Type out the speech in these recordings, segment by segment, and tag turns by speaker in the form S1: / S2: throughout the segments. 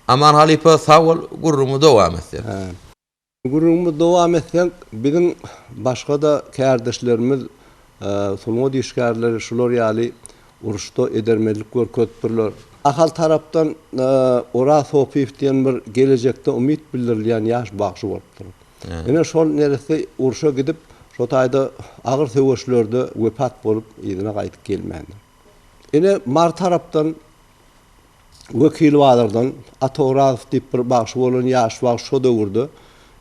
S1: Aman halypa sag bol gürrüňi dowam etsek. Gürrüňimizi
S2: dowam etsek biziň başgada kärdeşlerimiz sungat işgärleri şular ýaly uruşda edermenlik görkezipdirler. Ahal tarapdan Oraz Sopyýew diýen bir gelejekde umyt bildirilýän ýaş bagşy bolupdyr. Ine şol neresi urşa gidip şo taýda agyr söweşlerde wepat bolup yzyna gaýdyp gelmändir. Ine, Mary tarapdan Wekil bazardan Atowrazow diýip bir bagşy bolan ýaş bagşy şo döwürde.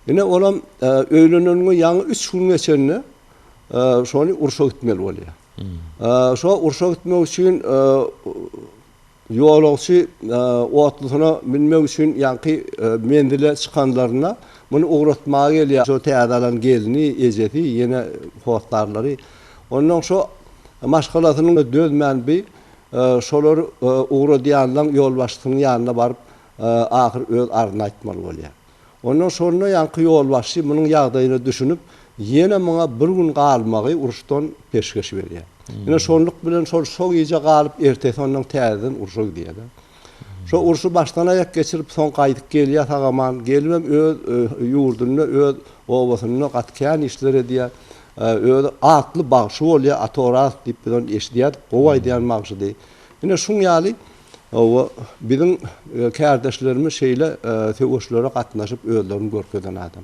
S2: Ine, olam öýleneniňe ýaňy üç gün geçende şony urşa gitmeli bolýar. Şo urşa gitmek üçin ýolagçy otlusyna münmek üçin ýaňky menzile çykanlarynda muny ugratmaga gelýär. Şo täze alan gelni, ejesi, ýene hossarlary Onnoň şo maşgalasynyň dözmän bi şolar ugradýanlaň ýolbaşçysynyň ýanyna baryp ahyr öz arzyny aýtmaly bolýa. Onnoň şonda ýaňky ýolbaşçy munuň ýagdaýyna düşünip ýene muňa bir gün galmagy uruşdan peşgeş berýä. Ine şonluk bilen şol şo gije galyp ertesi onnoň täzeden urşa gidýä-de. Şo urşy başdan aýak geçirip soň gaýdyp gelýär sagaman, gelibem öz ýurdunda öz obasynda gaty kän işler edýär. Özi atly bagşy bolýar, Ata Oraz diýip biz ony eşidýärdik, gowy aýdýan bagşydy. Ine şuň ýaly oba biziň kärdeşlerimiz şeýle söweşlere gatnaşyp özlerini görkezen adam.